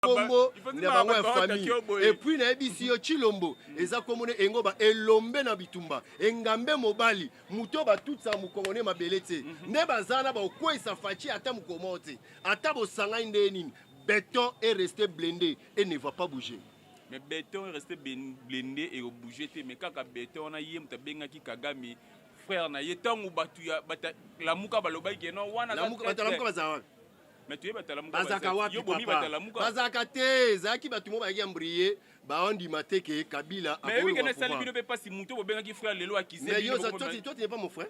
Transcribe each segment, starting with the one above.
kombo na bango ya famille et puis na yebisi yo Chilombo eza kombo na engo ba elombe na bitumba engambe mobali muto ba tout ça mukongo ne mabele tse mhm. nde bazana ba okwesa fachi ata mukomo tse ata bosanga nde nini béton est resté blindé et ne va pas bouger mais béton est resté blindé et au bouger te mais kaka béton na yem ta benga ki kagame frère na ye tangu batu ya bata lamuka balobaki non wana lamuka bata lamuka bazana bazalaka wapi papa bazalaka te ezalaki bato mo bayaki ambriye baondima te ke kabila akolobasali bino mpe mpasi moto bobengaki frère lelo akisais yo toi tu n'es pas mon frère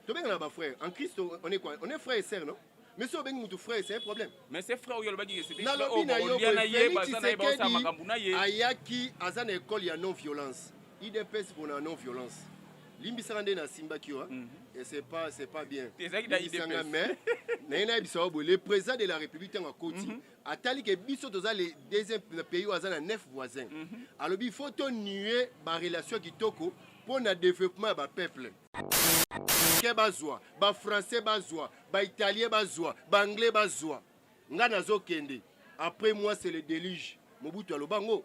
tobengana ba frère en christ on est quoi on est frère et sœur non mais soki obengi motu frère c'est un problème mais c'est frère oyo alobaki nalobi na yo boye felix tshisekedi ayaki aza na ekole ya non violence Udps pona non violence. limbisaka nde nasimbaki yo mhm. et c'est pas c'est pas bien limbisanga mais naye nayebisa yo boye le président de la république ntango akoti mhm. atali ke biso toza le deuxième pays oyo aza na neuf voisin mhm. alobi il faut tonue barelation kitoko mpo na développement ya bapeuple ke bazwa bafrançais bazwa baitalien bazwa baanglais bazwa ngai nazokende après moi c'est le déluge mobutu aloba ngo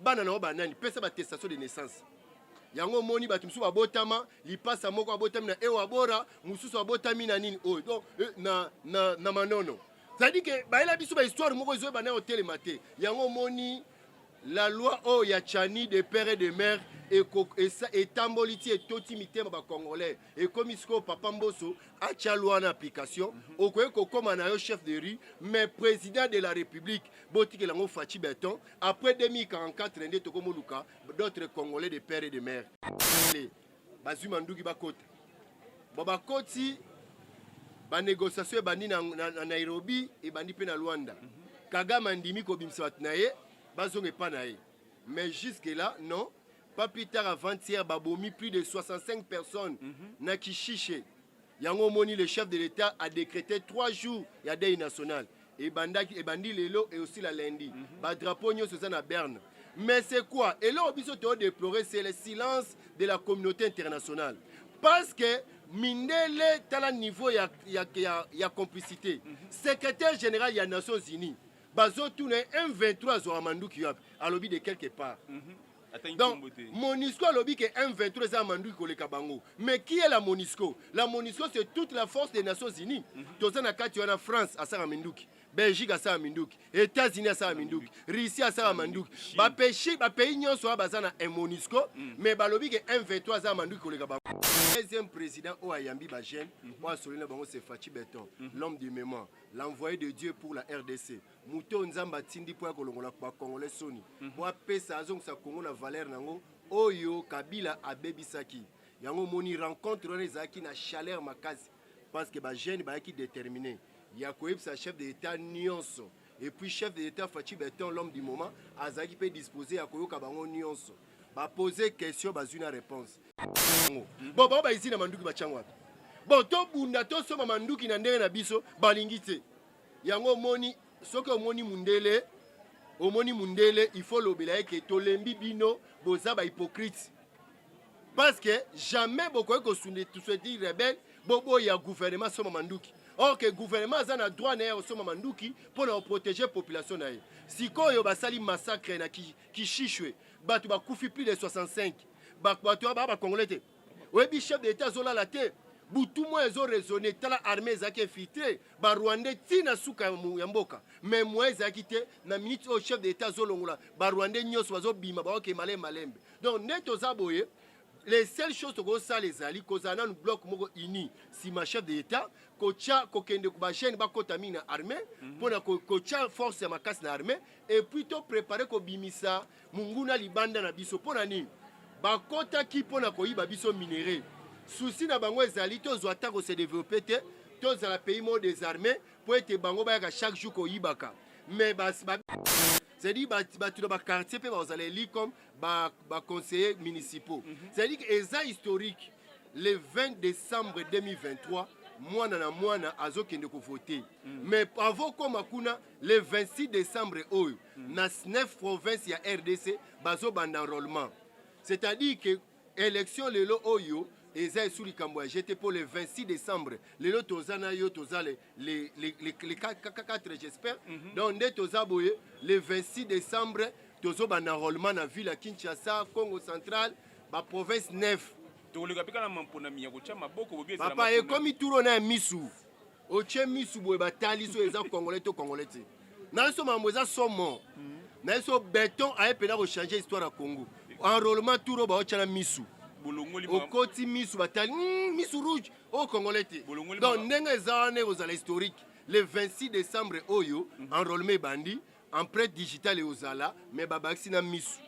bana na yo banani pesa batestation de naissance yango omoni bato mosusu babotama lipasa moko abotami na ewabora mosusu abotami na nini oyo donc eh, na, na, na manono cetadi ke bayela biso bahistoire moko ezo ebana kotelema te yango omoni la loi oyo ya chani de père et de mère etamboli ti etoti mitema bacongolais ekomi sikoyo papa mboso atya lwa na application mhm. okoki kokóma na yo chef de rue mais président de la république botikela yango faci beton après 2044 nde tokomoluka d'autres congolais de père et de mère bazwi manduki bakota bo bakoti banégociation ebandi na, na, na nairobi ebandi mpe na luanda mhm. kagame andimi kobimisa bato na ye bazonga epa na ye mais jusque là non pas plus tard avant-hier babomi plus de 65 personnes mm -hmm. na kishishe yango omoni le chef de l'état a décrété 3 jours ya dei national ebandaki ebandi lelo eosila lundi mm -hmm. badrapeau nyonso eza na berne mais c'est quoi eloko biso toodeplorer c'est le silence de la communauté internationale parce que mindele tala niveau ya, ya, ya, ya complicité mm -hmm. secrétaire général ya nations unies bazotuna m23 azwaka manduki wapi alobi de quelque part mm -hmm. Donc, Monisco alobi que M23 eza manduki koleka bango. Mais qui est la Monisco La Monisco c'est toute la force des Nations Unies. Mhm. Toza na kati wana France asaka minduki. Belgique asaka minduki. États-Unis asaka minduki. Russie asaka manduki. Ba pays ba pays nyonso wana baza na Monisco mhm. mais balobi que M23 aza manduki koleka bango. Deuxième président oyo ayambi ba jeunes, mhm. oyo asololi na bango c'est Fatshi Beton, l'homme du moment, l'envoyé de Dieu pour la RDC. moto oyo nzambe atindi mpo ya kolongola bakongole soni mpo mhm. apesa azongisa kongo na valere na yango oyo kabila abebisaki yango omoni rencontre wana ezalaki na chaleur makasi parce que bajeune bayaki déterminé ya koyebisa chef de l'état nyonso et puis chef de l'état faci beton l'homme du moment azalaki mpe disposé ya koyoka bango nyonso bapose question bazwi na réponse yango bon bango baizini na manduki batyango wapi bon tobunda tosomba manduki na ndenge na biso balingi te yango omoni soki omoni mundele omoni mundele il faut lobela ye ke tolembi bino boza ba hypocrite parce que jamais bokoki kosunde tusweti rebelle boboya gouvernement soma manduki or ke gouvernement aza na droit na ye ya kosomba manduki mpo na koprotege population na ye sikoyo basali massacre na kishishwe bato bakufi plus de 65 bato baa bacongolais te oyebi chef de l'etat azolala te butu moko ezo raisonne tala armée ezalaki infiltre barwandais ti na suka ya mboka mais moyen ezalaki te na minute oyo chef de l'etat azolongola barwandais nyonso bazobima baoke malembe malembe donc nde toza boye les seules choses tokosala ezali kozala nanu bloc moko uni nsima chef de l'etat kotya kokende bajeune bakota mingi na armée mpo mhm. na kotya force ya makasi na armée epuis toprépare kobimisa monguna libanda na biso mpo na nini bakotaki mpo na koyiba biso minere susi na bango ezali tozwa ata kose develope te tozala pays moko desarme mpo ete bango bayaka chaque jour koyibaka mais c'est-à-dire bato na baquartier mpe bakozala eli comme baconseiller municipaux mhm. c'est-à-dire eza historique le 20 décembre 2023 mwana na mwana azokende kovote mm. mais avant okoma kuna Le 26 decembre oyo mm. na 9 province ya RDC bazobanda enrôlement c'est-à-dire que élection lelo oyo eza esu likambo ya jete mpo le 26 décembre lelo toza na yo toza le, le, le, le, le 4 j'espère mm -hmm. donc nde toza boye le 26 décembre tozobanda enrôlement na ville ya kinshasa congo central baprovince 9 tokoleka mpe kaka mamponami ya kotya maboko bobi papa ekomi turo na ya misu otie misu boye batali so eza congolais to congolais te na biso makambo eza somo mm. na biso beton aye mpena kochange histoire ya congo enrôlement touro baotya na misu okoti misu batali mm, misu rouge oyo oh, congolais te donc ndenge eza wana ekozala historique le 26 décembre oyo mm. enrôlement ebandi empreinte digitale ekozala mais babakisi na misu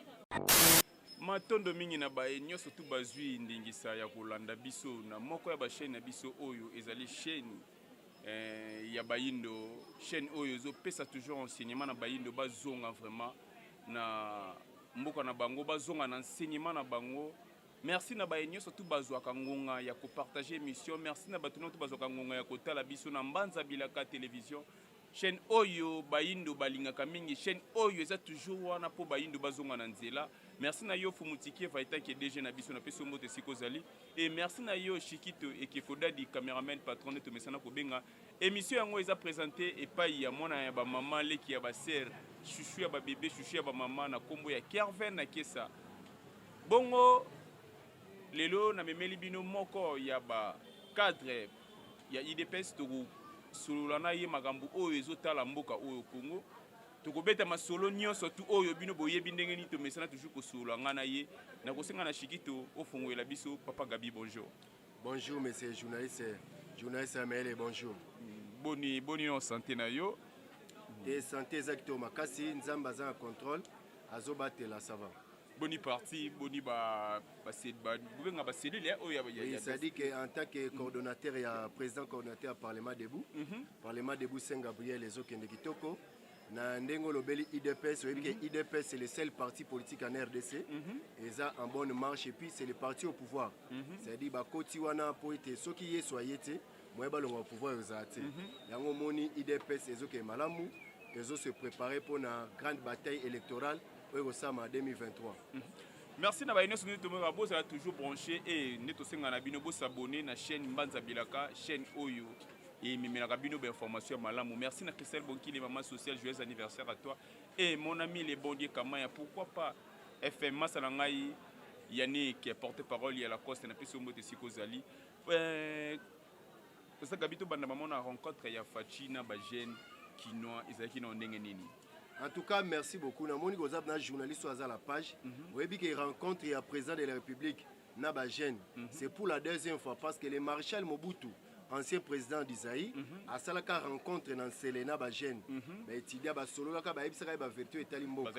Matondo mingi na baye nyonso tu bazwi ndingisa ya kolanda biso na moko ya basheni na biso oyo ezali sheni eh, ya bayindo sheni oyo ezopesa toujours enseignement na bayindo bazonga vraiment na mboka na bango bazonga na enseignement na bango merci na baye nyonso tu bazwaka ngonga ya kopartage émission merci na bato nyonso tu bazwaka ngonga ya kotala biso na mbanza bilaka television Chaine oyo bayindo balingaka mingi chaine oyo eza toujours wana po bayindo bazonga na nzela merci na yo fumutikie vaitanke dg na biso napesi yo mbote esika ozali e merci na yo shikito ekeko dadi cameraman patron nde tomesana kobenga emission yango eza presente epai ya mwana ya bamama leki ya basere shushu ya babebe shushu ya bamama na nkombo ya kerven na kesa bongo lelo namemeli bino moko ya ba cadre ya idps tokosolola na ye makambo oyo ezotala mboka oyo congo tokobeta masolo nyonso tu oyo bino boyebi ndenge nini tomesana toujours kosolola ngai na ye nakosenga na shikito ofongolela biso papa gabi bonjour bonjour monsieur journaliste journaliste amaele bonjour boni boni na sante na yo te sante eza kitoko makasi nzambe aza na contrôle azobatela sava boni parti boni ba ba ba bobenga ba cellule ya oyo ya ya c'est-à-dire que en tant que coordonnateur mm -hmm. ya président coordonnateur ya parlement debout mm -hmm. parlement debout Saint Gabriel ezokende kitoko na ndenge olobeli udps oyebi ke mhm. udps c'est le seul parti politique en rdc mhm. eza en bonne marche et puis c'est le parti au pouvoir mhm. c'est-à-dire bakoti wana mpo ete soki yesu aye te moye balonga pouvoir ezala te yango omoni udps ezokende malamu ezo se préparer mpo na grande bataille électorale oyo kosama 2023 merci na baye nyonso nde tomona bozala toujours branché e nde tosenga na bino bosabone na chaîne mbanza bilaka chaîne oyo ememelaka bino bainformation ya malamu merci na christelle bonkili mama social joyeux anniversaire à toi e mon ami le bon dieu kamaya pourquoi pas fm masa na ngai yannick porte parole ya lacoste na pesi ombote esika ozali eh, oza gabi tobanda mama na rencontre ya fachi na bajeune kinois ezalaki na ndenge nini En tout cas, merci beaucoup. Na moni kozab na journaliste à la page. Mm -hmm. Oyebi que rencontre ya président de la République na ba jeunes. Mm -hmm. C'est pour la deuxième fois parce que le maréchal Mobutu ancien président du Zaïre mm -hmm. asalaka rencontre na Nsele na ba jeunes. Mm -hmm. Ba étudiants ba sololaka ba yebisaka ba vertu etali mboka.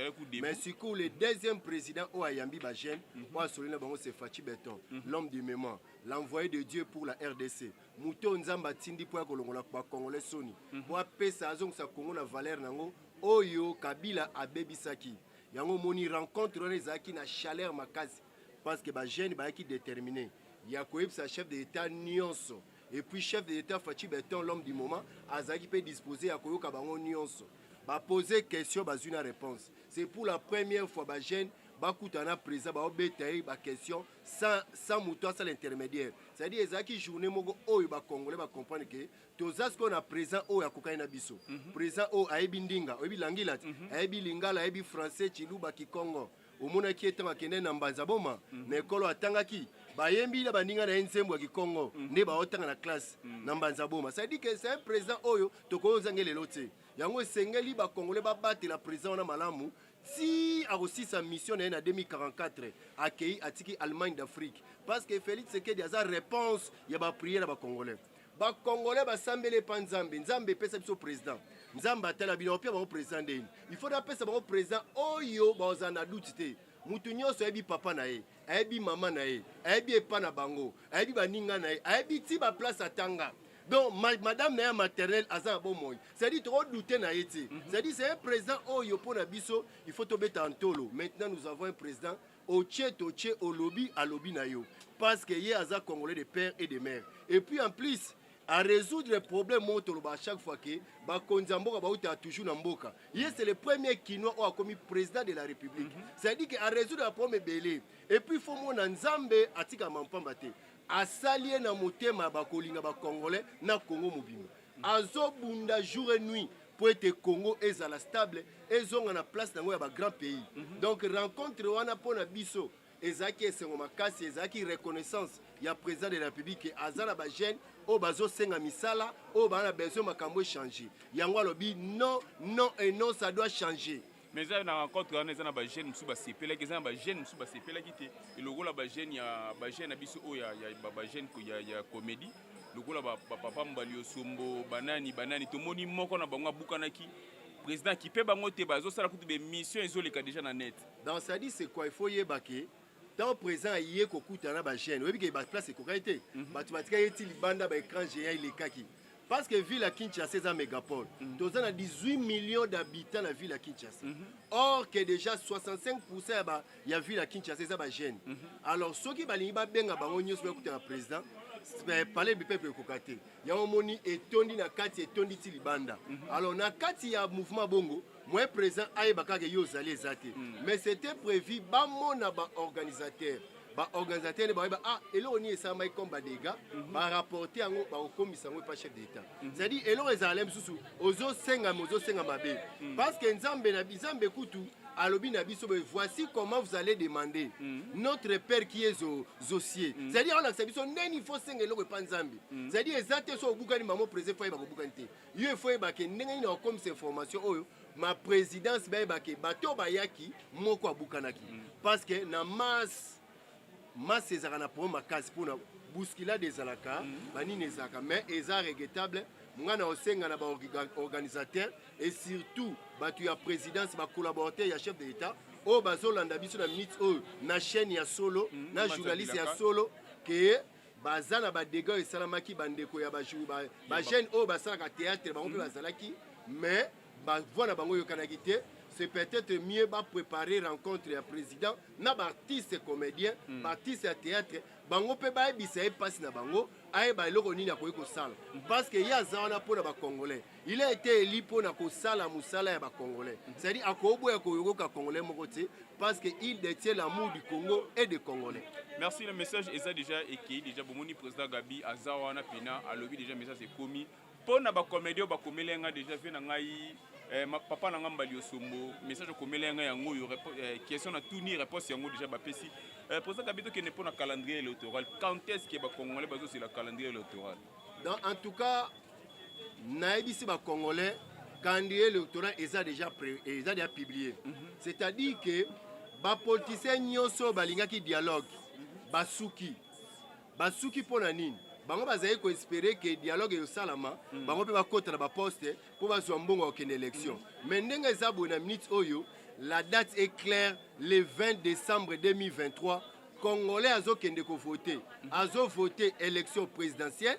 Mais sikoyo le deuxième président oyo ayambi ba jeunes, mm -hmm. oyo asololi na bango c'est Fatshi Beton, mm -hmm. l'homme du moment, l'envoyé de Dieu pour la RDC. moto oyo nzambe atindi mpo ya kolongola bakongole soni mhm. mpo apesa azongisa kongo na valere na yango oyo kabila abebisaki yango omoni rencontre wana ezalaki na chaleur makasi parce que bajeune bayaki déterminé ya koyebisa chef de l'état nyonso et puis chef de l'état faci beton l'homme du moment azalaki mpe disposé ya koyoka bango nyonso bapose question bazwi na réponse c'est pour la première fois bajeune bakutana na président baobeta ye baquestion sans, sans moto asala intermédiaire c'est-à-dire ezalaki journée moko oyo bacongolais bacomprendre ke toza sikoyo na présent oyo akokani na biso mm -hmm. présent oyo ayebi ndinga oyebi langila te mm -hmm. ayebi lingala ayebi français chiluba kikongo omonaki ye ntango akendaki na mbanza boma mm -hmm. na ekolo atangaki bayembi na baninga na ye nzembo ya kikongo mm -hmm. nde baotanga na classe mm -hmm. na mbanza boma c'est à dire que c'est un présent oyo tokoki ozange lelo te yango esengeli bakongole babatela présent wana malamu tii akosisa mission na ye na 2044 akei atiki allemagne d'afrique parce que felix sekedi aza réponse ya baprière ya bacongolais bakongole basambeli epa nzambe nzambe epesa biso président nzambe atala bino opia bango président ndeni il faut napesa bango président oyo bazala na duti te moto nyonso ayebi papa na ye ayebi mama na ye ayebi epa na bango ayebi baninga na ye ayebi ti baplace atanga donc madame na ye ya maternel aza na bomoi cestadire tokodoute na ye te mhm. cestadire c'est un président oyo mpo na biso il faut tobeta ntolo maintenant nous avons un président otie totie olobi alobi na yo parce que ye aza congolais de père et de mère et puis en plus à résoudre les problèmes moko toloba à chaque fois que bakonzi ya mboka bauta toujours na mboka ye c'est le premier kinois oyo akomi président de la république mm -hmm. c'est à dire que à résoudre baproblème ebele et puis fo mona nzambe atikama mpamba te Asali ye na motema ya bakolinga ba congolais na Congo mobimba. Azobunda jour et nuit mpo ete Congo ezala stable, ezonga na place na yango ya ba grands pays. Donc rencontre wana mpo na biso ezalaki esengo makasi, ezalaki reconnaissance ya President de la Republique que aza na ba jeunes oyo bazosenga misala, oyo baza na besoin makambo e changer. Yango alobi non, non et non, ça doit changer. mais eza na rencontre wana eza na bajeune mosusu basepelaki eza na bajeune mosusu basepelaki te elokola bajeune ya bajeune na biso oyo bajeune ya comédie lokola bapapa mbali osombo banani banani tomoni moko na bango abukanaki président akipe bango te bazosala kutu bemission ezoleka déjà na net donc sadi c'est quoi il faut yeba ke temps présent aye kokuta na bajeune oyebi ke baplace ekokaki te mhm. bato batikaki eti libanda baécran géant elekaki parce que ville ya kinshasa eza mégapole mhm. toza na 18 millions d'habitants na ville ya kinshasa mhm. or que déjà 65 pourcent ya, ba, ya ville ya kinshasa eza bajeune alors soki balingi babenga bango nyonso bakuta na président eh, palais du peuple ekoka te yango omoni etondi na kati etondi ti libanda alors na kati ya mouvement bongo moyen président ayeba kaka ye ozali eza te hmm. mais c'était prévu bamona baorganisateur baorganisateur nde bayeba ah eloko nini esalamaki comme badega mhm. barapporte yango bakokomisa yango epa chef d'état mhm. c'est-à-dire eloko ezala mosusu ozosenga me ozosenga mabe hmm. parce que nzambe na nzambe kutu alobi na biso boye voici comment vous allez demander mm. notre père qui est zosie mm. c'est-à-dire alakisa biso ndeni fo senga eloko epa nzambe mm. c'est-à-dire eza te so obukani mamo président fo ayeba kobukani te yo il faut oyeba ke ndenge nini akokomisa information oyo ma présidence bayeba ke bato oyo bayaki moko abukanaki mm. parce que na masse masse ezalaka na problème makasi mpona bousculade ezalaka mm. banini ezalaka mais eza regrettable ngai na osenga na baorganisateur et surtout bato ya présidence bacollaborateur ya chef de l'état oyo bazolanda biso na minute oyo na chaîne ya solo mm, na journaliste ya solo ke baza na badega oyo esalamaki bandeko ya bajeune oyo basalaka théâtre bango mpe mm. bazalaki mais bavoi na bango eyokanaki te c'est peut-être mieux bapréparer rencontre ya président na baartiste comédien mm. baartiste ya théâtre bango mpe bayebisa ye mpasi na bango ayeba eloko nini akoki kosala mm. parce que ye aza wana mpo na bacongolais il a été élu mpo na kosala mosala ya bacongolais c'est-à-dire akoboya koyokoka congolais moko te parce que il détient l'amour du congo et de congolais merci le message eza déjà ekei déjà bomoni président gabi aza wana mpena alobi déjà message ekomi mpo na bacomédie oyo bakomeli yanga déjà vie na ngai eh, papa na ngai mbali osombo message okomeli yanga yango oyo eh, question na tuni réponse yango déjà bapesi eh, président gabi tokende mpo na calendrier électoral quand est ce que bacongolais bazozela calendrier électoral en tout cas nayebisi ba congolais calendrier électoral eza déjà eza déjà publié mhm. c'est-à-dire que bapolitisien nyonso oyo balingaki dialogue basuki basuki mpo na nini bango bazali koespere ke dialogue eyosalama mm. bango mpe bakota na baposte mpo bazwa mbongo ya kokende élection mm. mais ndenge eza boye na minute oyo la date est claire le 20 décembre 2023 congolais azokende kovote mm. azovote élection présidentielle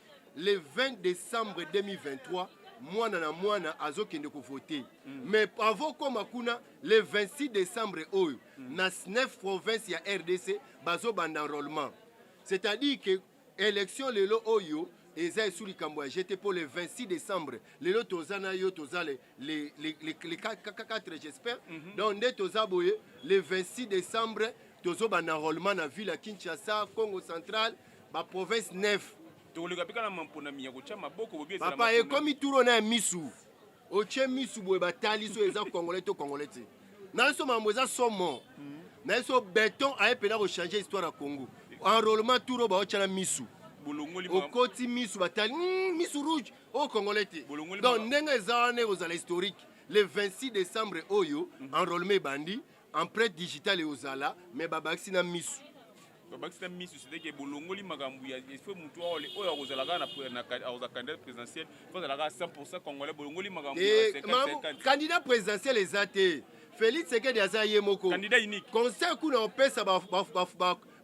le 20 décembre 2023 mwana na mwana azokende kovote mm. mais avant okoma kuna le 26 décembre oyo mm. na 9 province ya rdc bazobanda enrôlement c'est-à-dire que élection lelo oyo eza esu likambo ya jete mpo le 26 décembre lelo toza na yo toza le, le, le, le, le 4 j'espère mm -hmm. donc nde toza boye le 26 décembre tozobanda enrôlement na ville ya kinshasa congo centrale ba province 9 tokoleka mpe kaka na mamponami ya kotya maboko bobi ezala papa ekomi turo na ya misu otye misu boye batali so eza congolais to congolais te na biso makambo eza somo hmm. na biso beton aye mpena kochange histoire ya congo enrôlement turo baotya na misu okoti misu batali hmm, misu rouge oyo oh, congolais te donc ndenge eza wana ekozala historique le 26 décembre oyo hmm. enrôlement ebandi empreinte digitale ekozala mais babakisi na misu babakisi na misu cetadire bolongoli makambo ya fo motu oyo akozala kaka akozala candidat présidentiel fo azala kaka 100 congolais bolongoli makambo eh, candidat présidentiel eza te félix sekedi aza ye moko conseil kuna opesa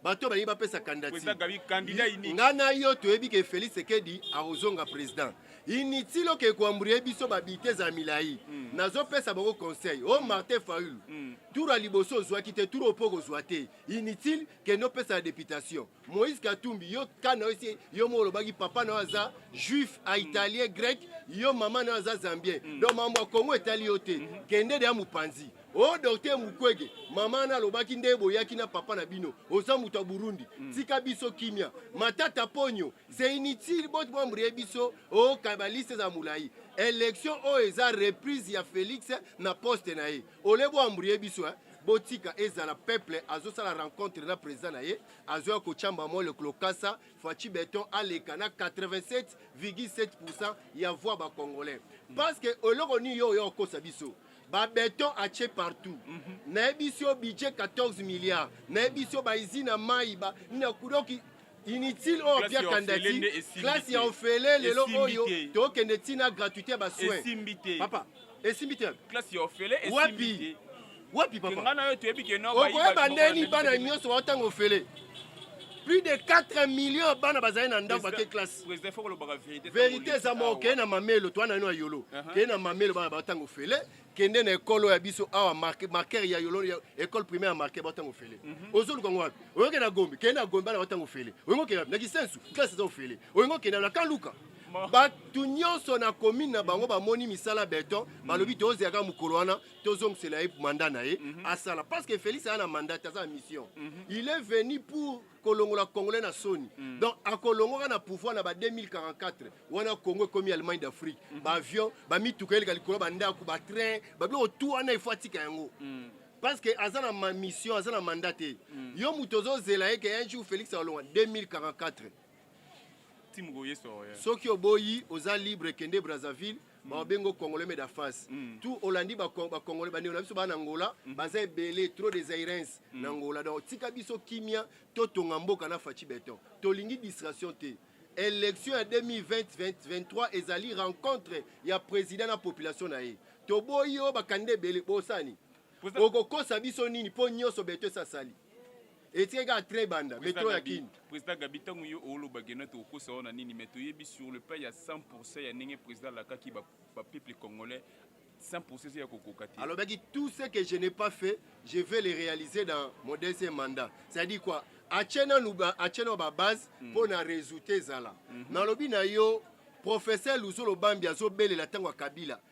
bato balingi bapesa kandidati nga na yo toyebi ke félix sekedi akozonga président inutile oke koambrie biso babite eza milai mm. nazopesa bango conseil o oh, mm. martin faulu mm. tour ya liboso ozwaki te tour opo kozwa te inutile kende opesa ya députation moïse katumbi yo ka na yo esi yo moko olobaki papa na yo aza juif a mm. italien grec yo mama na yo aza zambien mm. donc mambo ya kongo etali yo te mm -hmm. kende deya mopanzi o oh, docteur mukwege mama wana alobaki nde boyaki na papa na bino oza moto ya burundi mm. tika biso kimia matata ponyo c'est inutile bot mwambrie biso o oh, kabaliste eza molai election oyo oh, eza reprise ya felix na poste na ye ole boambrie biso eh? botika ezala peuple azosala rencontre na président na ye azoya kotyamba mwa lokolo kasa faci beton aleka na 87,7 ya voix bacongolais parce que eloko nini yo oyo okosa biso ba beton atie partout mm -hmm. nayebisi yo budget 14 milliards nayebisi yo baizine ya mai ba nina kudoki inutile oyo apia kandati klase ya ofele lelo oyo tokende ntina gratuité ya basoin papa esimbi te wapi wapi papa okoyeba ndeni bana nyonso baotanga ofele plus de 4 millions bana bazali na ndako bake classe President faut kolobaka verite. Verite eza moko kende na mamelo twana ino ya yolo. Uh-huh. Kende na mamelo bana ba tango fele kende na ekolo ya biso awa marque marqueur ya yolo ya école primaire marqueur ba tango fele. Mhm. Ozolu kango wapi? Oyoke na Gombe kende na Gombe bana ba tango fele. Oyingo kende na Kisensu classe eza fele. Oyingo kende na Kaluka bato nyonso na commune na bango bamoni misala beton balobi mhm. tozela kaka mokolo wana tozongisela ye manda na ye mhm. asala parce que félix aza na mandat aza na mission il est venu pour kolongola congolais na soni mm. donc akolongoka na pouvoir na ba 2044 wana congo ekomi allemagne d'afrique mm. baavion bamituka eleka likolo bandako batrain babiloko tu wana efo atika yango mm. parce que aza na mission aza na mandat te mm. yo moto ozozela ye ke un jour félix akolonga 2044 soki oboyi oza libre kende brazzaville mawa bengo congolais me da face mm. tout olandi bacongolais bandeko na biso baa na ngola mm. baza ebele trop des airens mm. na ngola donc tika biso kimia totonga mboka na faci beton tolingi distraction te élection ya 2020-2023 ezali rencontre ya président na population na ye toboyi oyo bakanda ebele bosani okokosa biso nini mpo nyonso beto esasali etikaki kaka tre banda metro ya kin président gabi ntango yo oloba gena tokokosa wana nini mais toyebi sur le plan ya 100 pourcent ya ndenge président alakaki bapeuple congolais 100 pourcent eza ya kokoka te alobaki tout ce que je n'ai pas fait je vais le réaliser dans mon deuxième mandat c'est à dire quoi atie nanu atie nao babase hmm. mpo na résultat ezala mhm. nalobi na yo professeur luzolo bambi azobelela ntango ya kabila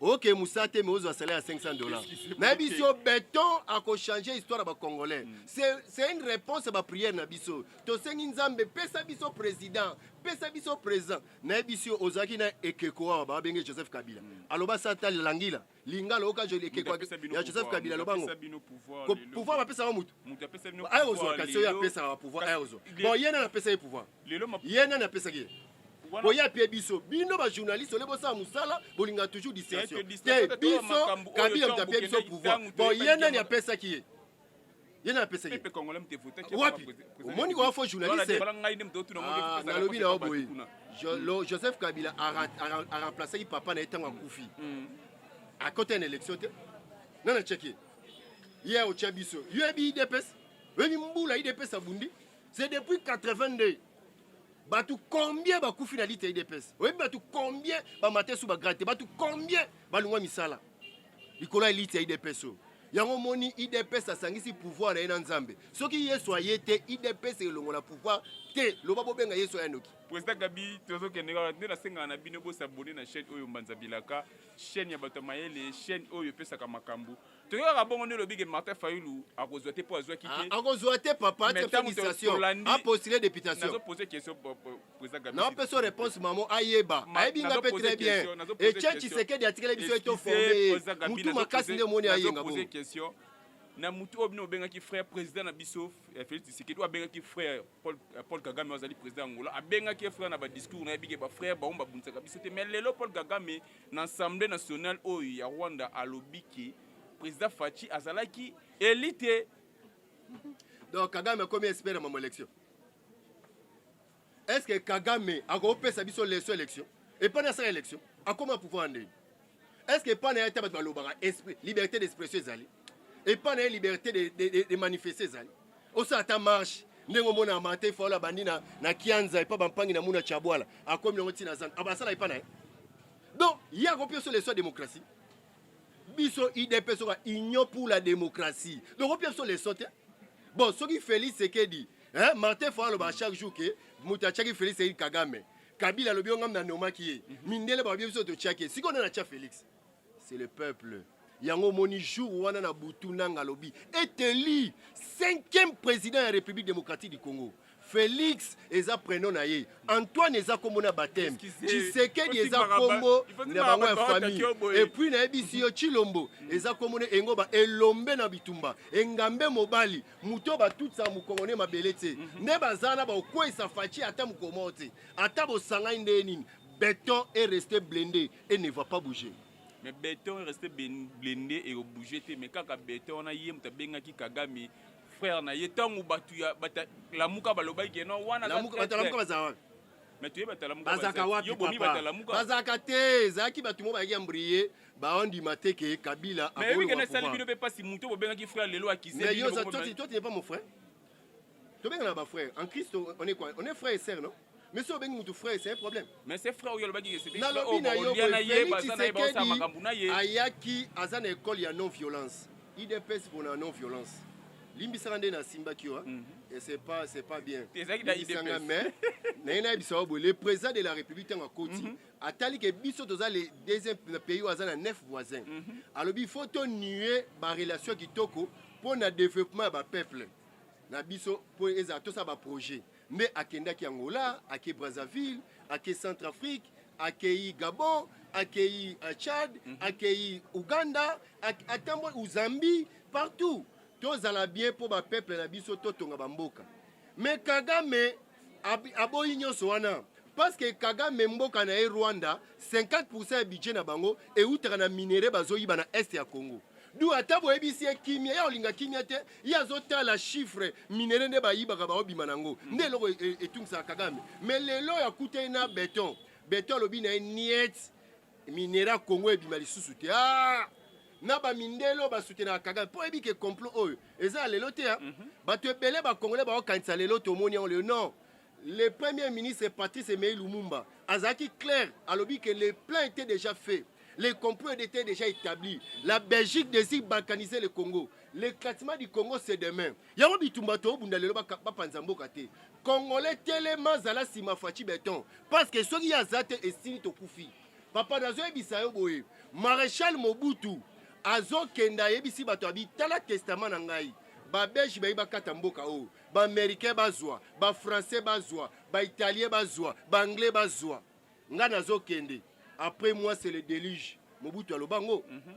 oke musa te mais ozwa salaire ya 500 dollars nayebisi yo beton akochange histoire ya bacongolais mm. c'est une réponse ya baprière na biso tosengi nzambe pesa biso président pesa biso président nayebisi yo ozalaki na ekeko awa babenge joseph kabila mm. aloba sata langila lingala oka joli ekeko ya joseph kabila aloba ngo pouvoir bapesaka motu aye ozwa kasi oyo apesaka bapouvoir aye ozwa bon ye nani apesa ye pouvoir ye nani apesaki ye boya mpe biso bino bajournaliste ole bosala mosala bolinga toujours distraction te biso kabila moto apie biso pouvoir bon ye nani apesaki ye ye nani apesaki ye wapi omoni kowa fo journaliste ah, nalobi na yo boye joseph kabila aremplacaki papa na ye ntango akufi mm. akota na élection te nani atyaki ye ye otya biso yo yebi idps oyebi mbula idps abundi C'est depuis 82 bato combien bakufi na lite ya idps oyebi bato combien bamate su bagrade te bato combien balungwa misala likolo ya lite ya idps oyo yango omoni idps asangisi pouvoir na ye na nzambe soki yesu aye te idps elongola pouvoir te loba bobenga yesu aya noki président gabi tozokende kaka nde nasengaka na bino bosabone na chaîne oyo mbanza bilaka chaîne ya bato ya mayele chaîne oyo epesaka makambo toyokaka bongo nde olobi ke martin fayulu akozwa te mpo azwaki te ah, akozwa te papa te félicitation apostule députation naopeso réponse mamo ayeba ayebi nga mpe très bien etienne tshisekedi atikeli biso ye toforme mutu makasi nde omoni ayenga bongo na mutu oyo bino obengaki frère président na biso eh, félix tshisekedi oyo abengaki frère Paul, euh, Paul Kagame azali président ya Angola abengaki ye frère na ba discours na ye bike ba frère bango babundisaka biso te mais lelo Paul Kagame na assemblée nationale oyo ya Rwanda alobi ke président Fatshi azalaki eli te donc Kagame akomi expert na mama élection est ce que Kagame akopesa biso leso élection epai na asala élection akoma pouvoir ndeni est ce que epai na ye te bato balobaka liberté d'expression ezali epa na ye liberté de, de, de, de manifeste ezali osala ata marche ndenge omona martin faola abandi na, na kianza epa bampangi na muna chabwala akomi nango ntina zan abasala epa na ye donc ye akopi oso leso ya démocratie biso idp soka union pour la démocratie donc opi biso leso te bon soki félix sekedi hein, martin faola alobaka chaque jour ke moto atiaki félix sekedi kagame kabila alobi yo ngam na nomaki ye mhm. mindele bakobi biso totiaki ye sikoyo nde natya félix c'est le peuple yango omoni jour wana na butu nanga alobi eteli cinquième président ya république démocratique du congo félix eza prénom na ye antoine eza kombo na bateme tshisekedi eza kombo na bango ya famille epuis nayebisi yo chilombo eza kombo na engo ba elombe na bitumba engambe mobali moto batutisa mokongo ne mabele te mhm. nde baza na bakokweyisa faci ata mokolo moko te ata bosangani ndenge nini beton est resté blende et ne va pas bouger mais beton reste blende et au bouger te mais kaka beton wana ye moto abengaki kagame frère na ye ntango bato ya batalamuka balobaki ke non wana batalamuka bazala wapi mais toye batalamuka bazalaka wapi papa bazalaka te ezalaki bato mo bayaki ambriye baondima te ke kabila ayebi ke nasali bino mpe mpasi moto bobengaki frère lelo akise toi tu n'es pas mon frère tobengana ba frère en christ on est quoi on est frère et sœur non mais soki obengi motu frère c'est un problème mais c'est frère oyo alobaki nalobi na yo boyetisekedi ayaki aza na école ya non violence idps pona non violence limbisaka nde nasimbaki yo mhm. et c'est pas c'est pas bien limbisanga mais naye nayebisa yo boye le président de la république ntango akoti mhm. atali ke biso toza le deuxième pays oyo aza na neuf voisin mm -hmm. alobi faut tonue barelation kitoko mpo na développement ya bapeuple na biso mpo ezala tosala baprojet nde akendaki angola ake brazzaville ake centre afrique akei gabon akei euh, tchad mm -hmm. akei uganda atamboli uzambi partout tozala bien mpo bapeuple na biso totonga bamboka me kagame aboyi nyonso wana parce que Kagame mboka na ye Rwanda 50% ya budget na bango eutaka na minere bazoyiba na est ya Congo du ata boyebisi ye kimia ye akolinga kimia te ye azotala chiffre minere nde bayibaka baobima na yango nde eloko e, e, etungisaka Kagame me lelo oyo akuta ye na beton beton alobi na ye niet Minera Congo ebima lisusu te. Ah! na bamindele oyo basutenaka kagame mpo oyebi ke complot oyo eza ya lelo te mm -hmm. bato ebele bakongole baokanisa lelo tomoni yango lelo non le premier ministre patrice emei lumumba azalaki clair alobi ke le plan était déjà fait le complot était déjà établi la belgique désire balkaniser le congo l'éclatement du congo c'est demain yango bitumba toobunda lelo bapanza mboka te Congolais telema zala sima Fatshi Beton parce que soki ya zate esili tokufi. Papa nazo yebisa yo boye Marechal Mobutu azokenda ayebisi bato abi tala testament na ngai babelge bayi bakata mboka oyo baaméricain bazwa bafrançais bazwa baitalien bazwa baanglais bazwa ngai nazokende après moi c'est le déluge mobutu aloba ngo mm -hmm.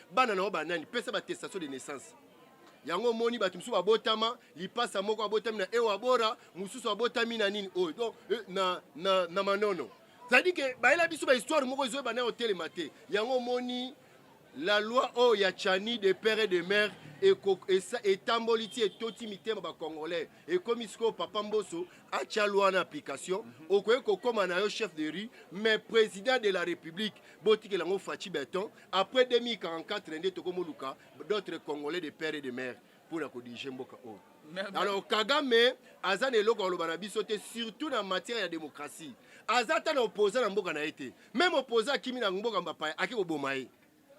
bana na yo banani pesa batestation de naissance yango omoni bato mosusu babotama lipasa moko abotami na ewabora mosusu abotami na nini oyo donc eh, na, na, na manono cetadi ke bayela biso bahistoire moko ezo ebana kotelema te yango omoni la loi oyo ya chani de père et de mère etamboli ti etoti mitema bacongolais ekomi sikoyo papa mboso atya lwa na application mhm. okoki kokóma na yo chef de rue mais président de la république botikela yango faci beton après 2044 nde tokomoluka d'autres congolais de père et de mère mpo na kodirige mboka oyo alors kagame aza na eloko aloba na biso te surtout na matière ya démocratie aza ata na opoza na mboka na ye te meme opoza akimi na mboka mbapaya ake koboma ye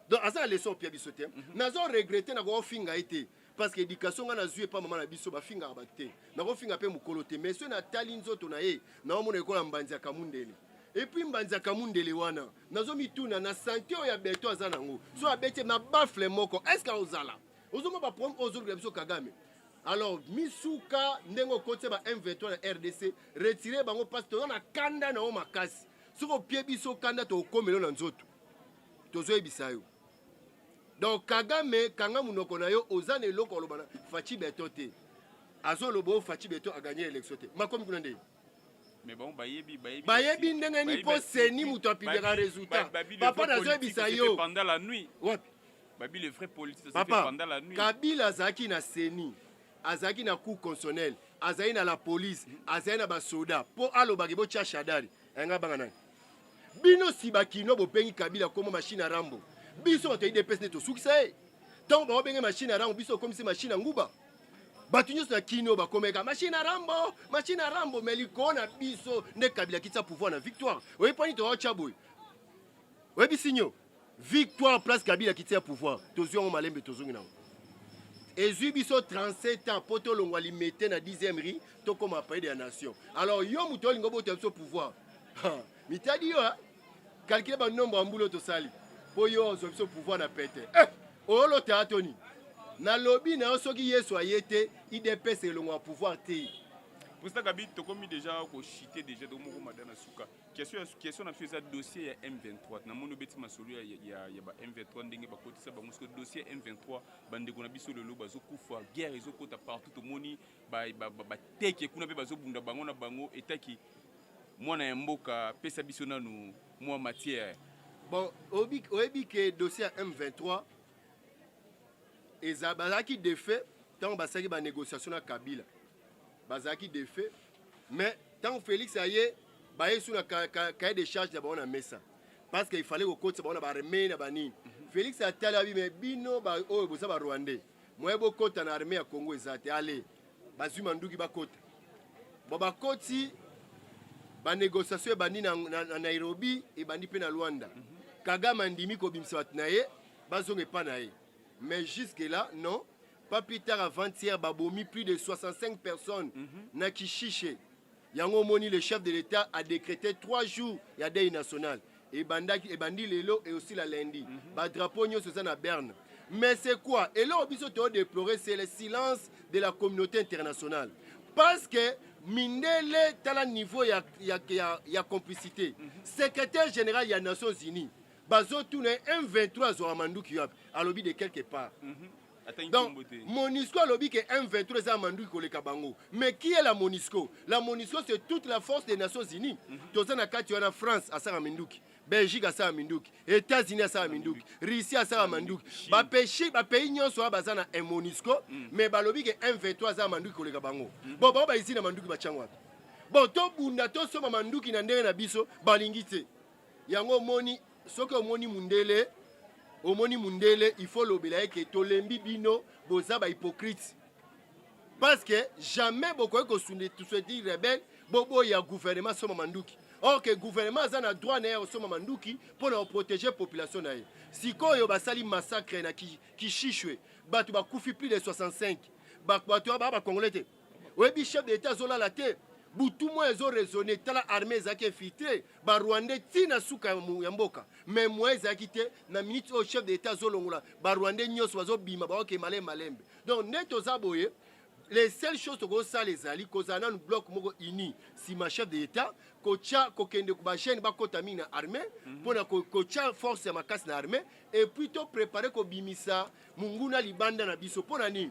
donc aza na leson opia biso te mhm. nazo regrete na kofinga ye te parce que éducation nga nazwi epa mama na biso bafingaka bato te nakofinga mpe mokolo te mais soki natali nzoto na ye naomona ekola mbanzi ya kamundele epuis mbanzi ya kamundele wana nazomituna na sante oyo ya beto aza nango so abeti na bafle moko estce aozala ozomona baproblème oyo ozolukela biso kagame alors misuka ndenge okotisa ba m23 na rdc retire bango mpasi toza na kanda na yo makasi soki opie biso kanda tokokomelo na nzoto tozoyebisa yo donc kagame kanga munoko na yo oza na eloko aloba na faci beton te azoloba oyo faci beton aganye élection te makomi kuna nde Mais bon, bayebi, bayebi, bayebi ndenge nini mpo seni moto apidaka résultat papa nazoyebisa yo pendant la nuit wapi babi le vrai politique papa pendant la nuit kabila azalaki na seni azalaki na cour constitutionnel azali na la police azali na basoda mpo alobaki botya shadari Anga banga nani? Bino si bakino bobengi Kabila komo machine ya Rambo. Biso bato ya IDPS nde tosukisa ye. Ntango bango benge machine ya Rambo, biso okomisi machine ya nguba. Bato nyonso na kino bakomeka machine ya Rambo, machine ya Rambo, mais likolo na biso nde Kabila kitisa pouvoir na victoire. Oyebi mpo nini toyotya boye? Oyebi sinyo? Victoire place Kabila kiti ya pouvoir tozwi yango malembe tozongi nango ezwi biso 37 ans mpo tolongwa limete na 10e ri tokoma paide ya nation alors yo moto olingi obota biso pouvoir mitadi yo kalkile banombre ya mbulo tosali mpo yo ozwa biso pouvoir na pete eh, olota to nini nalobi na yo soki yesu aye te idps elongwa pouvoir te pusaka bi tokomi deja koshite deja tomoko mada na suka question question na biso eza dossier ya M23 na moni obeti masolo ya, ya, ya ba M23 ndenge bakotisa bango siko dossier ya M23 bandeko na biso lelo bazokufa guerre ezokota partout tomoni bateke ba, ba, ba kuna mpe bazobunda bango na bango etaki mwana ya mboka pesa biso nanu mwa matière bon oyebi ke dossier ya M23 eza bazalaki defait ntango basalaki banégociation na kabila bazalaki defe mais ntango Felix aye baye su na cahier de charge na bango na mesa parce que ifale kokotisa bango na baarmee na banini mhm. Felix atali abi me bino oyo boza barwandais moye bokota na armee ya Congo eza te ale bazwi manduki bakota bo bakoti banegociation ebandi na, na, na nairobi ebandi mpe na luanda mm -hmm. kagame andimi kobimisa bato na ye bazonga epa na ye mais jusque là non Pas plus tard avant-hier, babomi plus de 65 personnes mm -hmm. na Kishishe. Yango moni le chef de l'État a décrété 3 jours ya deuil national. Ebandaki ebandi lelo et aussi la lundi. Mm -hmm. Ba drapeau nyoso eza na Berne. Mais c'est quoi? Et là biso to déplorer c'est le silence de la communauté internationale. Parce que mindele tala niveau ya ya ya, ya complicité. Mm -hmm. Secrétaire général ya Nations Unies bazotuna ye m23 azwaka manduki yo ape alobi de quelque part mm -hmm. donc monisco alobi ke m23 eza ya manduki koleka bango mais qui est la monisco la monisco c'est toute la force des nations unies mm -hmm. toza na kati wana france asaka minduki belgique asala minduki états-unis asala minduki russie asala manduki bapays nyonso oyo baza na monisco mm. mais balobi ke m23 aza manduki koleka bango mm. bon bango baizini na manduki batyango wapi bon tobunda tosomba manduki na ndenge na biso balingi te yango omoni soki omoni mundele omoni mundele il faut olobela ye ke tolembi bino boza bahypocrite parce que jamais bokoki kosueti rebelle boboya gouvernement soma manduki or ke gouvernement aza na droit na ye ya kosomba manduki mpo na koprotege population na ye sikoyo basali massacre na kishishwe bato bakufi plus de 65 bato baa bacongolais te oyebi chef de l'etat azolala te butu moya ezo raisonne tala armée ezalaki infiltre barwandais ti na suka ya mboka mais moyen ezalaki te na minute oyo chef de l'etat azolongola barwandais nyonso bazobima baoke malembe malembe donc nde toza boye les seules choses tokosala ezali kozala nanu bloc moko uni nsima chef de l'etat kotya kokende bajeune bakota mingi na armée mpo mhm. na kotya force ya makasi na armée epuis to prépare kobimisa monguna libanda na biso. Mpo na nini?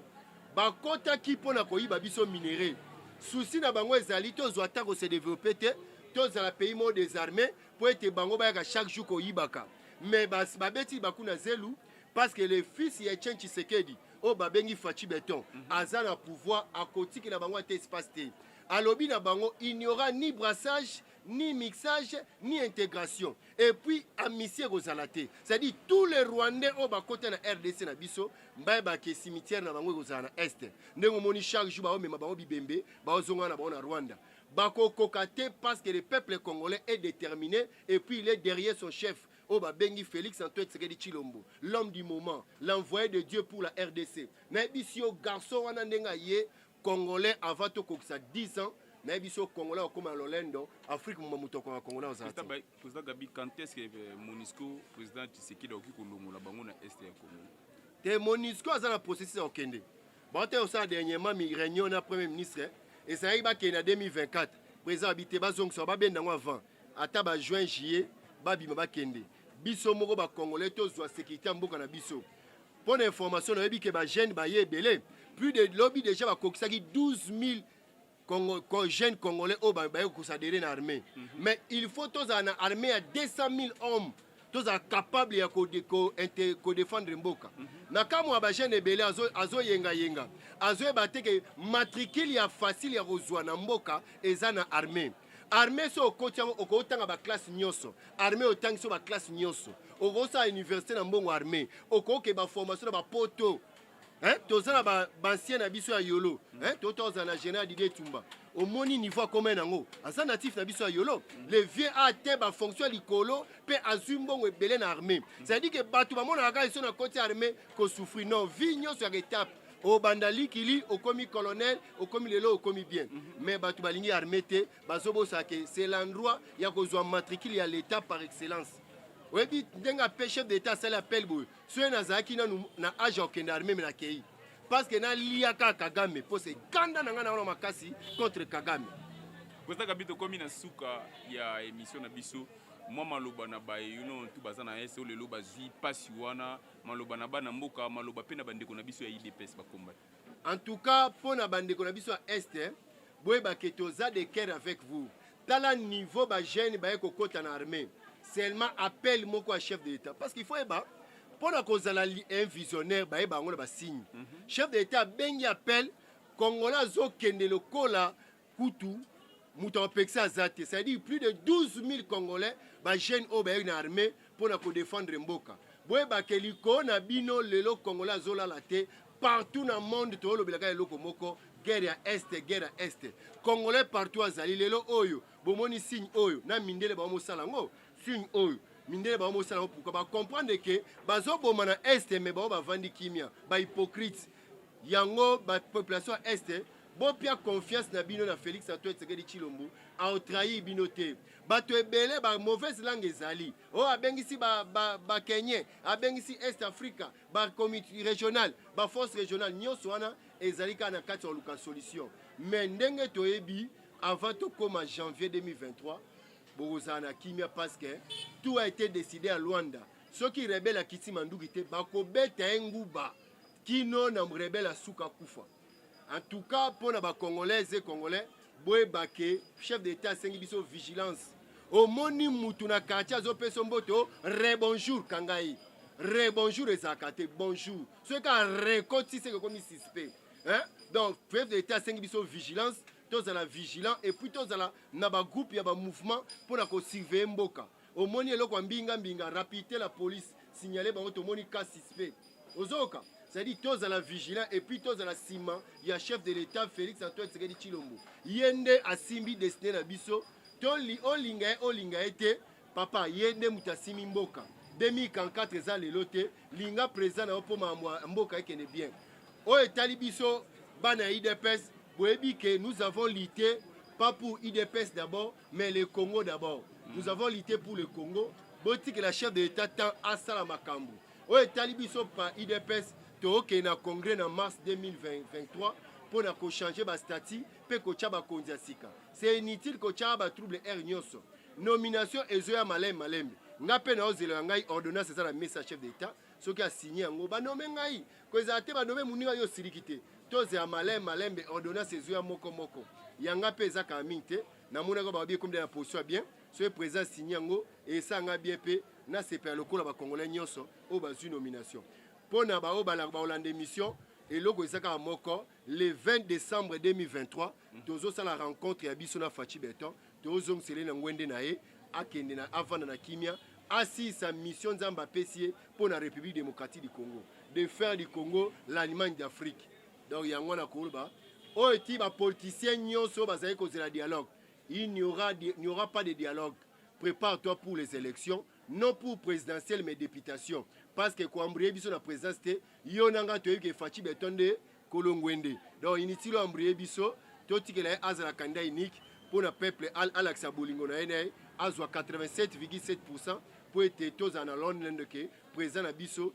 Bakotaki mpo na koyiba biso minere. Susi na bango ezali tozwa ata kose develope te, tozala pays moko desarme mpo ete bango bayaka chaque jour koyibaka. Mais babeti libaku na zelu parce que le fils ya Etienne Tshisekedi oyo babengi Fatshi Beton mhm. aza na pouvoir akotikela bango ata espace te. Alobi na bango il n'y aura ni brassage ni mixage ni intégration et puis amisi ekozala te c'est-à-dire tous les rwandais oyo bakota na rdc na biso bayeba ke cimetière na bango ekozala na est ndenge omoni chaque jour baomema bango bibembe baozonga na bango na rwanda bakokoka te parce que le peuple congolais est déterminé et puis il est derrière son chef oyo babengi félix antoine tshisekedi tshilombo l'homme du moment l'envoyé de dieu pour la rdc nayebisi yo garçon wana ndenge aye Congolais avant to kokisa 10 ans naye biso congolais okoma na lolendo afrique moma moto akonga congolais ozala te président gabi quand est ce que euh, monisco président tshisekedi akoki kolongola bango na est ya congo te monisco aza na processus ya kokende baotali kosala dernièrement réunion na premier ministre eh, ezalaki bakende na 2024 président abi te bazongisa babenda yango avant ata ba juin juillet babima bakende biso moko bacongolais tozwa sécurité ya mboka na biso Mpo na information nayebi ke ba jeunes baye ebele plus de lobi deja bakokisaki 12000 Congo, Congo, jeune congolais oyo baye kosadere na armée mm -hmm. mais il faut tozala na armée ya 200 000 hommes tozala capable ya kodefendre mboka mm -hmm. na kamwa ya bajeune ebele azoyengayenga azo azoyeba te ke matricule ya facile ya kozwa na mboka eza na armée armée so okoti yango okotanga baklasse nyonso armée otangi so baklasse nyonso okosala université na mbongo armée okoke baformation na bapoto hein? toza na baancien ba na biso ya yolo hein? tota ozala na général didie tumba omoni niveau akomai nango aza natif na biso ya yolo le vieux a atteint bafonction ya likolo mpe azwi mbongo ebele na armée c'est à dire ke bato bamonaka kaka eso na koti ya armée kosouffrir non vie nyonso ya etape obanda likili okomi colonel okomi lelo okomi bien mm -hmm. mais bato balingi armée te bazobosaka ke c'est l'endroit ya kozwa matricule ya l'état par excellence oyebi ndenge ape chef d'état asali appel boye soki nazalaki nanu na age ya kokende armée me nakei parce que nalia kaka kagame mpo se kanda na ngai na wana makasi contre kagame koza kabi tokomi na suka ya émission na biso mwa maloba na baye yuno tu baza na ese oyo lelo bazwi mpasi wana Maloba na bana mboka, maloba pe na bandeko na biso ya IDPS ba combattant. En tout cas, po na bandeko na biso ya Est, boyeba ke toza de cœur avec vous. Tala niveau ba jeunes baye kokota na armee. Seulement appel moko ya chef de l'Etat. Parce qu'il faut yeba, mpo na kozala un visionnaire bayeba yango na basigne mm -hmm. chef de l'etat abengi appel congolais azokende lokola kutu moto apekisa aza te c'est-à-dire plus de 12 000 congolais bajeune oyo bayaki na armée mpo na kodefendre mboka boyebake likolo na bino lelo congolais azolala te partout na monde toolobelaka eloko moko guerre ya este guerre ya este congolais partout azali lelo oyo bomoni signe oyo na mindele bango mosala yango signe oyo mindele bango mosala yango pourkua bacomprendre ke bazoboma na este me bango bavandi kimia bahypocrite yango bapopulation ya este Bopia confiance na bino na Felix Antoine Tshisekedi Tshilombo, ao trahir bino te. Bato ebele ba mauvaise langue ezali. Oh abengisi ba ba ba Kenyen, abengisi Est Africa, ba community regional, ba force regional nyonso wana ezali kaka na kati ya luka solution. Mais ndenge toyebi avant tokoma janvier 2023 bokozala na kimia parce que tout a été décidé à Luanda. Soki rebelle akiti manduki te bakobeta ye nguba kino na rebelle asuka kufa. En tout cas, pour les Congolais et Congolais, boyeba ke chef d'état asengi biso vigilance omoni mutu na quartier azopesa mboto re bonjour kanga ye re bonjour ezalaka te bonjour soki kaka rekoti seke ekomi suspect hein? donc chef d'état asengi biso vigilance tozala vigilant epuis tozala na bagroupe ya bamouvement mpo na kosurveille mboka omoni eloko ya mbinga mbinga rapidité la police signale bango tomoni cas suspect ozoyoka c'est-à-dire tozala vigilant et puis tozala nsima ya chef de l'état félix antoine tshisekedi tshilombo ye nde asimbi destiné na biso toli olinga ye olinga ye te papa ye nde moto asimi mboka 2044 eza lelo te linga président na yo mpo makambo ya mboka ekende bien oyo etali biso bana ya idps boyebi ke nous avons lite pas pour idps d'abord mais le congo d'abord mm. nous avons lité pour le congo botikela chef de l'état temps asala makambo oyo etali biso pa idps tokokende na congrès na mars 2023 mpo na kochange bastatut mpe kotya bakonzi ya sika se inutile kotyaka batrouble aire nyonso nomination ezoya malembe malembe ngai mpe naozela ya ngai ordonnance eza na mesa chef de l'état soki asigne yango banome ngai ko ezala te banome moninga yo osiliki te tozela malin malembe ordonnance ezwi ya moko moko yanga mpe eza kala mingi te namonaka babi ekomida na position ya bien soki président signe yango esala ngai bien mpe nasepela lokola bacongolais nyonso oyo bazwi nomination mpo na baoyo baolanda émission eloko eza kaka moko le 20 décembre 2023 tozosala rencontre ya biso na faci beton Tozongisela ye na ngwende na ye, akende na avanda na kimia, asilisa mission Nzambe apesi ye mpo na Republique démocratique du Congo, de faire du Congo l'Allemagne d'Afrique. Donc yango wana koloba oyo ti ba politiciens nyonso bazali kozela dialogue, il n'y aura, il n'y aura pas de dialogue. Prépare-toi pour les élections, non pour présidentielle mais députation, parce que koambrie biso na présidence te, yo na ngai toyebi ke Fatshi Beton nde Kolo Ngwende. Donc inutile o embrouiller biso, totikela ye azala candidat unique mpo na peuple al alakisa bolingo na ye na ye azwa 87,7% mpo ete tozala na Londland ke président na biso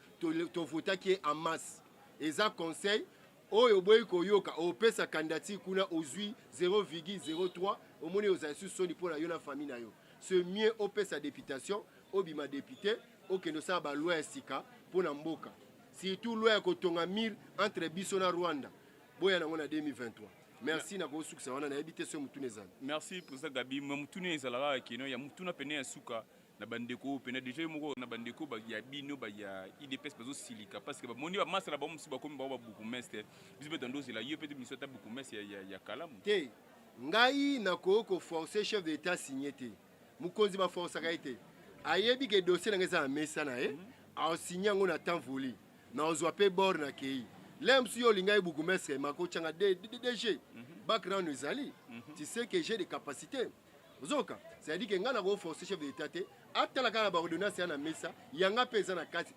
tovotaki ye en masse. Eza conseil oyo oboyi koyoka, opesa candidature kuna ozwi 0,03, omoni ozala lisusu soni mpo na yo na famille na yo. Ce mieux opesa deputation Obima depute okende osala ba loi ya sika mpo na mboka, surtout loi ya kotonga mur entre biso na Rwanda, boya nango na 2023. Merci na kosukisa wana nayebi te soki motuna ezali. Merci president Gabi, mais motuna ezala kaka keno ya motuna pene ya suka na bandeko oyo pene deja yo moko na bandeko ba ya bino ba ya IDPS bazo silika parce que bamoni ba masala ba mosusu bakomi bango ba bourgmestre biso pe tando zela yo pe te biso ta bourgmestre ya, ya, ya kalamu te ngai nakoki koforce chef de l'etat signe te Mokonzi ba forcaka ye te. Ayebi ke dossier na nga eza na mesa na ye, aosigne yango na temps voulu. Na ozwa pe bord na keyi. Lelo mosusu yo olingaki bourgmestre Marco Changa DG. Background ezali. Tu sais que j'ai des capacités. Ozoka? Ça dit que nga na ko forcer chef de l'etat te. Atala kaka ba ordonnance ya na mesa, yanga pe eza na kati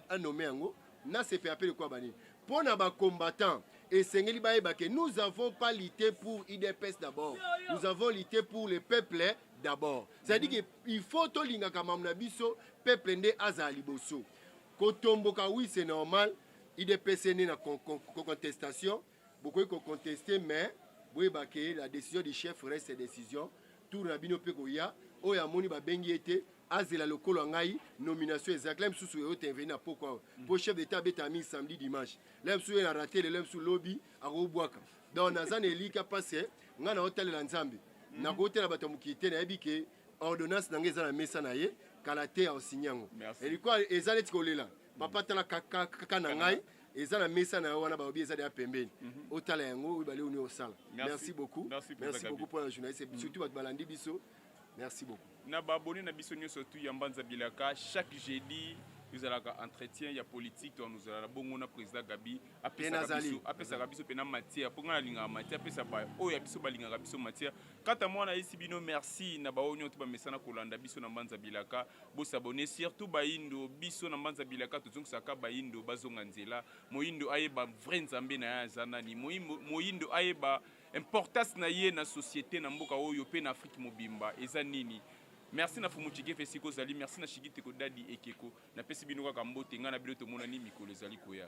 a nomme yango. Na sepela pe lokola ba nini. Mpo na ba combattants, esengeli bayeba que nous avons pas lutte pour udps d'abord, nous avons lutte pour le peuple d'abord. C'est-à-dire que il faut tolingaka mamu na biso, peuple nde azala liboso. Kotomboka oui c'est normal, udps ene na con- con- con- contestation, bokoki koconteste mais boyeba que la décision du chef reste décision. Tour na bino mpe koya, oyo amoni babengi ye te, azela lokolo ya ngai nomination ezalaki la misusu eyo tenveni na poko awa mm. po chef d'etat abetaka mingi samedi dimanche la misusu ye na rate lelo misusu lobi akobwaka donc naza na elika parce que ngai naotalela nzambe mm. nakotela bato ya mokili te nayebi ke ordonnance na ngai eza na mesa na ye kala te aosigne yango elikwa eza neti kolela papa mm. tala kaka na ngai eza na mesa na yo wana balobi eza deya pembeni mhm. otala yango oyo bale oni osala merci beaucoup merci beaucoup mpo na journaliste surtout bato balandi biso Merci beaucoup. Na ba abonné na biso nyoso tout ya Mbanza Bilaka chaque jeudi ezalaka entretien ya politique to nous la bongo na président Gabi apesaka biso apesaka biso pena matière po ngana linga matière apesa ba oyo biso balingaka biso matière kata mwana yesi bino merci na ba onyo to ba mesana kolanda biso na Mbanza Bilaka bo s'abonner surtout ba indo biso na Mbanza Bilaka tozongisaka ba indo bazonga nzela moindo ayeba vrai nzambe na ya zanani moindo ayeba Importance na ye na societe na mboka oyo pe na Afrique mobimba eza nini? Merci na Fumu Chigef esika ozali, merci na Shigiteko Daddy Ekeko. Napesi bino kaka mbote, ngai na bino tomonani mikolo ezali koya.